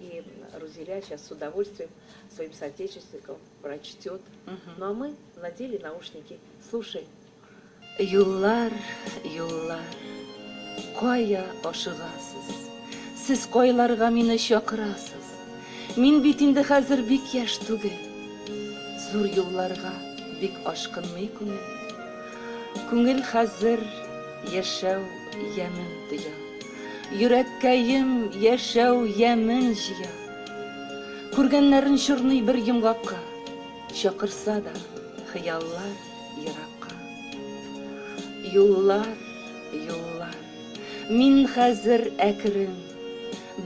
И Рузиля сейчас с удовольствием своим соотечественникам прочтет. Угу. Ну а мы надели наушники. Слушай. Юллар, юллар, кая ашыгасыз? Сез кайларга мине чакырасыз? Мин бит инде хәзер бик яшь түгел. Зур юлларга бик ашкынмый күңел. Күңел хәзер яшәү ямен тоя. Йөрәккәем яшәү ямен җыя. Күргәннәрен чорный бер йомгакка, Чакырса да хыяллар еракка. Юллар, юллар, мин хәзер әкрен,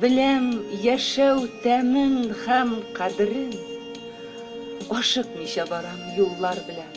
Беләм яшәү тәмен һәм кадерен. Ашыкмыйча барам юллар белән.